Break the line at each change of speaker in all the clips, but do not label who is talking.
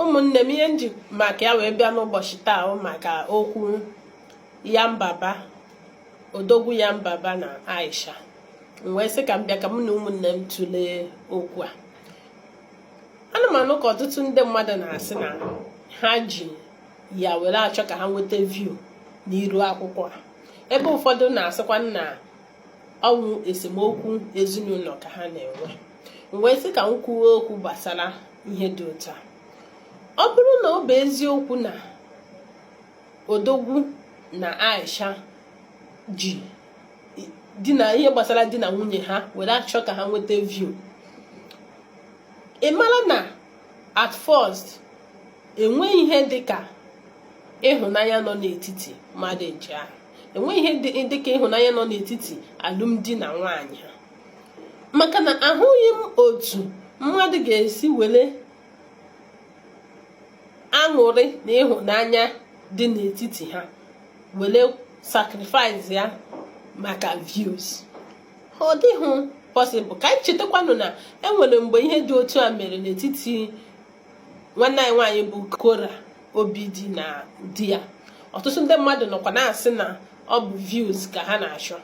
ụmụnne m ihe m ji maka ya wee bịa n'ụbọchị taa maka okwu yanbaba odogwu yanbaba na aisha m wee sị ka m bịa ka mụ na ụmụnne m tụlee okwu a ana m anụ ka ọtụtụ ndị mmadụ na-asị na ha ji ya were achọ ka ha nweta view n'iru akwụkwọ a ebe ụfọdụ na-asịkwa na ọ wụ esemokwu ezinụlọ ka ha na-enwe m wee sị ka m kwuo okwu gbasara ihe dị otu a ọ bụrụ na ọ bụ eziokwu na odogwu na aisha ji di na ihe gbasara di na nwunye ha were achọ ka ha nweta view ị mara na at first enweghị ihe dị ka ịhụnanya nọ n'etiti mmadụ ndị ahụ enweghị ihe dị ka ịhụnanya nọ n'etiti alụmdi na nwaanyị ha maka na ahụghị m otu mmadụ ga-esi were aṅụrị na ịhụnanya dị n'etiti ha were sacrifice ya maka views ọ dịghị possible ka anyị chetakwanụ na enwere mgbe ihe dị otu a mere n'etiti nwanne anyị nwaanyị bụ Korra Obidi na di ya ọtụtụ ndị mmadụ nọkwa na-asị na ọ bụ views ka ha na-achọ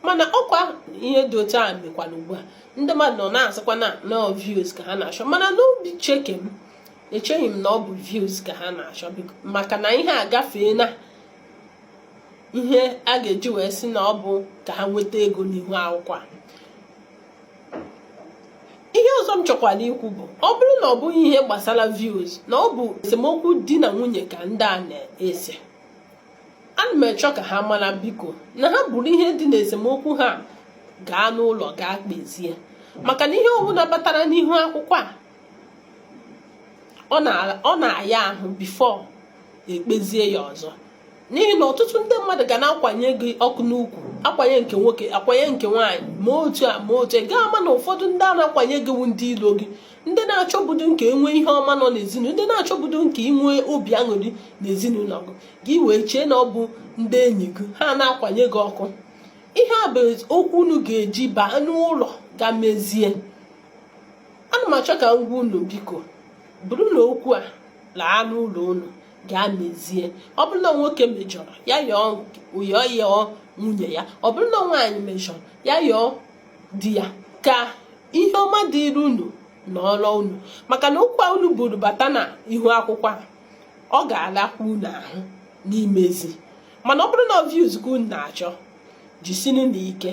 mana ọkwa ihe dị otu a mekwara ugbu a ndị mmadụ nọ na-asịkwa na ọọ views ka ha na-achọ mana n'obi uche ke m echeghị m na ọ bụ views ka ha na-achọ maka na ihe a agafeena ihe a ga-eji wee sị na ọ bụ ka ha nweta ego n'ihu akwụkwọ a ihe ọzọ m chọkwara ikwu bụ ọ bụrụ na ọ bụghị ihe gbasara views na ọ bụ esemokwu di na nwunye ka ndị a na-ese ana m achọ ka ha mara biko na ha buru ihe dị n'esemokwu ha gaa n'ụlọ gaa kpezie maka na ihe ọbụla batara n'ihu akwụkwọ a ọ na-aya ahụ before e kpezie ya ọzọ n'ihi na ọtụtụ ndị mmadụ ga na-akwanye gị ọkụ n'ukwu akwanye nke nwoke akwanye nke nwaanyị ma otu a ma otu ị ga-ama na ụfọdụ ndị a na-akwanye gị wu ndị ilo gị ndị na-achọbudu nke inwe ihe ọma nọ n'ezinụlọ ndị na-achọbudu nke inwe obi aṅụrị n'ezinụlọ gị gị wee chee na ọ bụ ndị enyi gị ha na-akwanye gị ọkụ ihe a bụ okwu unu ga-eji baa n'ụlọ gaa mezie ana m achọ ka m gwa unu biko burunụ okwu a laa n'ụlọ unu gaa mezie ọ bụrụ na nwoke mejọrọ ya yọọ yọọ yọọ nwunye ya ọ bụrụ na nwaanyị mejọrọ ya yọọ di ya ka ihe ọma dịrị unu na ụlọ unu maka na okwu a unu buru bata na ihu akwụkwọ a ọ ga-alakwa unu ahụ n'imezi mana ọ bụrụ na views ka unu na-achọ jisinụ na ike